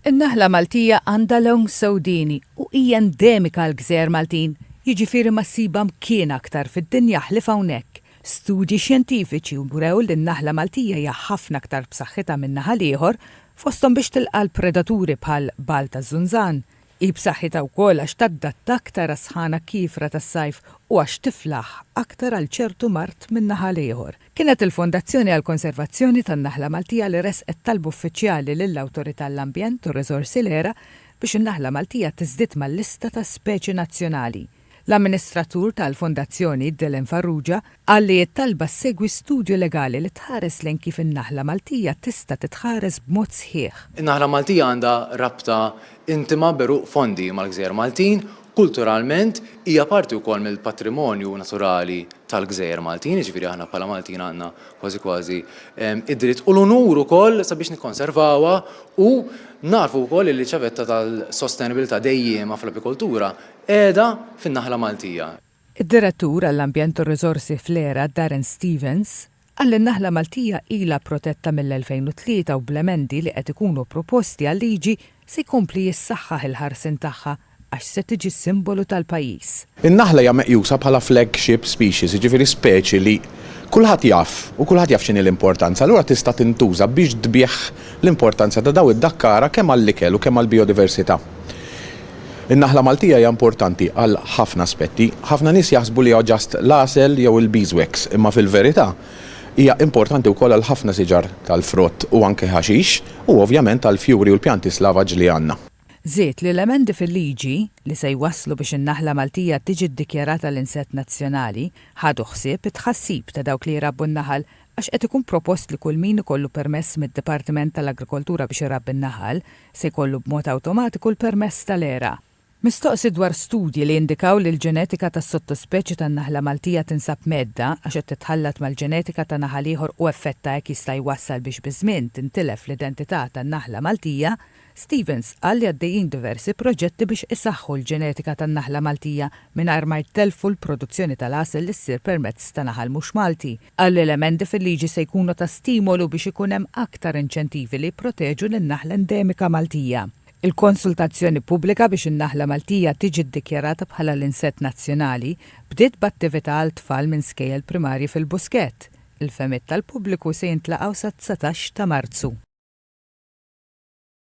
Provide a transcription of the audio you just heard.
In-naħla Maltija għandha long sewdieni u hija endemika għall-gżejjer Maltin, jiġifieri ma ssibha mkien aktar fid-dinja ħlief hawnhekk. Studji xjentifiċi wrew li n-naħla Maltija hija ħafna aktar b'saħħitha min-naħa l-ieħor, fosthom biex tilqa' l-predaturi bħal bgħal taż-żunżan, Hi b'saħħitha wkoll għax taddatta aktar għas-sħana kiefra tas-sajf u għax tiflaħ aktar għal ċertu mard min-naħa l-ieħor. Kienet il-Fondazzjoni għall-Konservazzjoni tan-Naħla Maltija li ressqet talba uffiċjali lill-Awtorità għall-Ambjent u r-Riżorsi l-ERA biex in-naħla Maltija tiżdied mal-lista ta' speċi nazzjonali. L-amministratur tal-Fondazzjoni, Dylan Farrugia, qal li t-talba ssegwi studju legali li tħares lejn kif in-naħla Maltija tista' titħares b'mod sħiħ. In-naħla Maltija għandha rabta intima b'għeruq fondi mal-gżejjer Maltin, kulturalment hija parti wkoll mill-patrimonju naturali tal-gżejjer Maltin, jiġifieri aħna bħala Maltin għandna kważi kważi id-dritt u l-unur ukoll sabiex nikkonservawha u nagħrfu wkoll li ċ-ċavetta tal-sostenibbiltà dejjiema fl-apikoltura Qiegħda fin-Naħla Maltija. Id-Direttur għall-Ambjent u r-Riżorsi fl-ERA, Darren Stevens, qal li n-Naħla Maltija ilha protetta mill-2003 u bl-emendi li qed ikunu proposti għal-liġi se jkompli jissaħħaħ il-ħarsien tagħha għax se tiġi s-simbolu tal-pajjiż. In-naħla hija meqjusa bħala flagship species, jiġifieri speċi li kulħadd jaf u kulħadd jaf x'inhi l-importanza, allura tista' tintuża biex tbigħ l-importanza ta' daw id-dakkara kemm għall-ikel u kemm għall-bijodiversità. In-naħla Maltija hija importanti għal ħafna aspetti. Ħafna nies jaħsbu li huwa ġast l-għasel jew il-beeswax, imma fil-verità hija importanti wkoll għal ħafna siġar tal-frott u anke ħaxix, u ovvjament għall-fjuri u l-pjanti slavaġ li għandna. Żied li l-emendi fil-liġi, li se jwasslu biex in-naħla Maltija tiġi ddikjarata l-insett nazzjonali, ħadu ħsieb it-tħassib ta' dawk li jrabbu n-naħal għax qed ikun propost li kull min ikollu permess mid-Dipartiment tal-Agrikoltura biex irabbi n-naħal se jkollu b'mod awtomatiku l-permess tal-era. Mistoqsi dwar studji li jindikaw li l-ġenetika tas-sottospeċi tan-naħla Maltija tinsab mgħeddda għax qed titħallat mal-ġenetika ta' naħal ieħor u effett ta' hekk jista' jwassal biex biż-żmien tintilef l-identità tan-naħla Maltija, Stevens qal li għaddejjin diversi proġetti biex isaħħu l-ġenetika tan-naħla Maltija mingħajr ma jtellfu l-produzzjoni tal-għasel li ssir permezz ta' naħal mhux Malti. Qal li l-emendi fil-liġi se jkunu ta' stimolu biex ikun hemm aktar inċentivi li jipproteġu lin-naħla endemika Maltija. Il-konsultazzjoni pubblika biex in-naħla Maltija tiġi ddikjarata bħala l-insett nazzjonali bdiet b'attività għal tfal minn skejjel primarji fil-Buskett. Il-fehmiet tal-pubbliku se jintlaqgħu sat-dsatax ta' Marzu.